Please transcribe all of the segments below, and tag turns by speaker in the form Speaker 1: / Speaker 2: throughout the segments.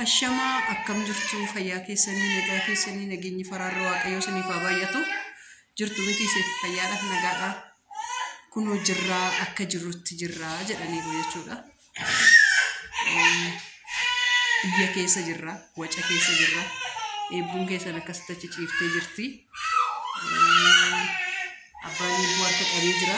Speaker 1: Ashamaa akkam jirtu fayyaa keessanii nagaa keessanii nageenyi faraarra waaqayyoo siniif haa baay'atu jirtu miti ishee fayyaadhaaf nagaadha kunoo jirraa akka jirrutti jirraa jedhaniiru jechuudha biyya keessa jirra waca keessa jirra eebbuun keessan akkasitti achi ciiftee jirti abbaan eebbuu harka qabee jira.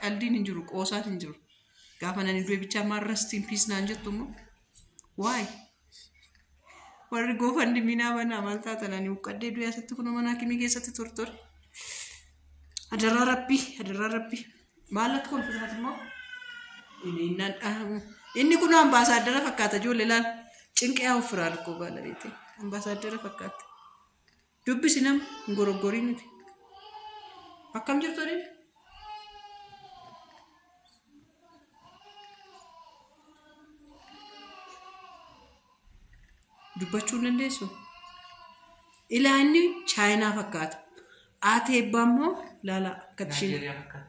Speaker 1: Qaldiin hin jiru, qoosaan hin jiru. Gaafa nani du'e bichaa maal rest in peace naan jettu immoo. Why? Warri goofan diminaa banaa maal taatan ani huqqadhee du'e asitti kunoo mana hakimii keessatti tortore. Adaraa rabbii, adaraa rabbii. Maal akka kolfisaati immoo? Inni innaan dhahamu. Inni kun ambaasaaddara fakkaata ijoollee laal. Cinqee ofirraa rakkoo baalabeete. Ambaasaaddara fakkaata. Dubbisi nam hin goroggorii miti. Akkam jirtu Aliif? Dubbachuu hin dandeessu? Ilaa inni chaayinaa fakkaata. Ati eebbaa immoo laala akkati isheen. Naayijeeriyaa fakkaata.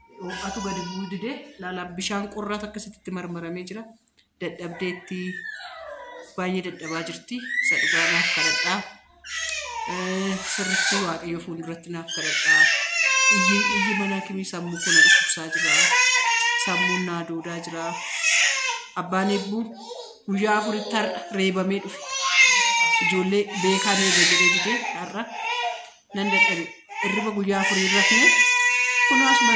Speaker 1: Ho'atu gadi bu'uu didee laala bishaan qorraatu akkasitti itti marmaramee jira. Dadhabdeetti baay'ee dadhabaa jirti. Isa dhugaa naaf kadhadhaa. Eh, Sirriitti waaqayyo fuulduratti naaf kadhadhaa. Iyyi iyyi mana akimii sammuu koo na dhukkubsaa jira. Sammuun naa duudaa jira. Abbaan eebbuu guyyaa afuritti har'a reebamee dhufe. Ijoollee beekaan eega jedhee didee har'a nan dadhabe irriba guyyaa afurii rafne kunoo asuma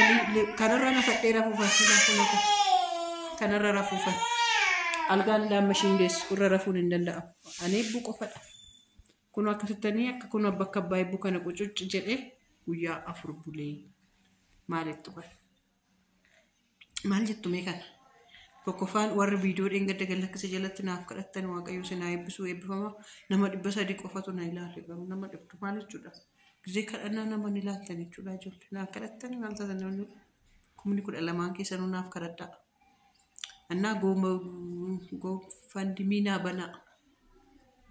Speaker 1: kanarra na fadhee rafuufan silaa kunoo kanarra rafuufan algaan daamma ishiin deessu irra rafuun hin danda'amu ani eebbuu qofadha kunoo akkasittanii akka kunoo bakka abbaa eebbuu kana qucucci jedhee guyyaa afur bulee maalittu kan Maal jettu mee kana? Tokkoffaan warri viidiyoo dheengadda gallakkisa jalatti naaf kadhattan waaqayyo isin haa eebbisuu eebbifama. Nama dhibba sadii qofatu na ilaale garuu nama dhibdu maal jechuudha? Gizee kadhannaa nama ni laattan jechuudha ijoollee. Naaf kadhattan maal taatan namni kumni kudha lamaan keessanuu naaf kadhadhaa. Annaa gooma goofandimii naa banaa.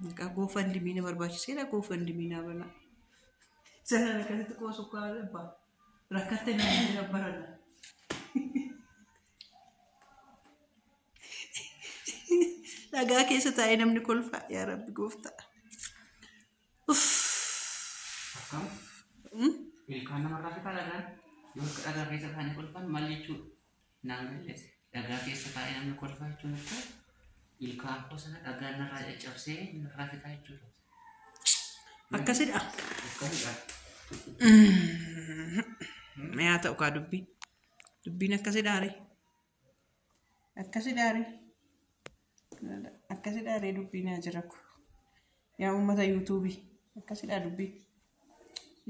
Speaker 1: Maqaa goofandimii na barbaachiseera goofandimii naa banaa. Sana kanatti qoosuu kaa abbaa. Rakkatte nama jira barana. Dhagaa keessa taa'ee namni kolfaa yaa rabbi gooftaa.
Speaker 2: Akkam? Mm? Ilkaan namarraa fitaa dhagaan? Yoo akka dhagaa keessa taa'anii kolfan maal jechuudha? naan galle dhagaa keessa taa'ee namni kolfaa jechuun akka ilkaan koo sana dhagaan narraa caccabsee narraa fixaa jechuudha.
Speaker 1: Akkasidha. Akkasidha. Mee haa ta'u kaa dubbiin. Dubbiin akkasidhaare. Akkasidhaare. Akkasidhaa ree dubbii naa jiraku. Yaa uummata yuutuubii akkasidhaa dubbii.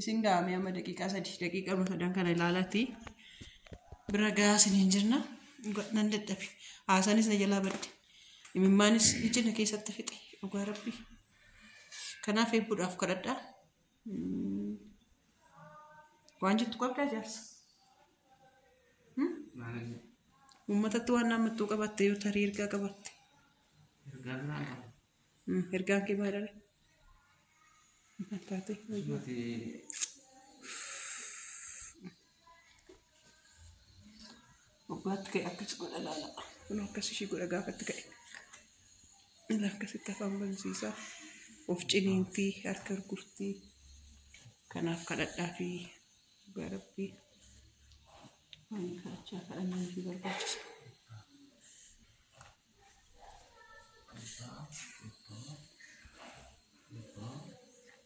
Speaker 1: Isin gaamee amma daqiiqaa sadii daqiiqaa amma sadan kana ilaalatii bira gahaa isiniin jirna. Dhugaa nan dadhabe. Haasaanis na jalaa badde. Imimmaanis ija na keessatti fixe. Dhugaa rabbii. Kanaaf eebbuudhaaf kadhadhaa. Waan jettu qabdaa jaarsa. Uummatatti waan naammattuu qabatte yoo tarii ergaa qabatte. Mm, Ergaan kee maalidha? Maal taate? Oggaatti ka'e akkas godha laala. Kun akkas ishii godha gaafatti ka'e. Inni akkasitti afaan bansiisa. Of ciniintii harka gurgurtii. Kanaaf kadhadhaa fi dhugaa rabbii. Waan kadhachaa kadhannaan fi barbaachisa.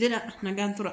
Speaker 1: Jedha nagaan tura.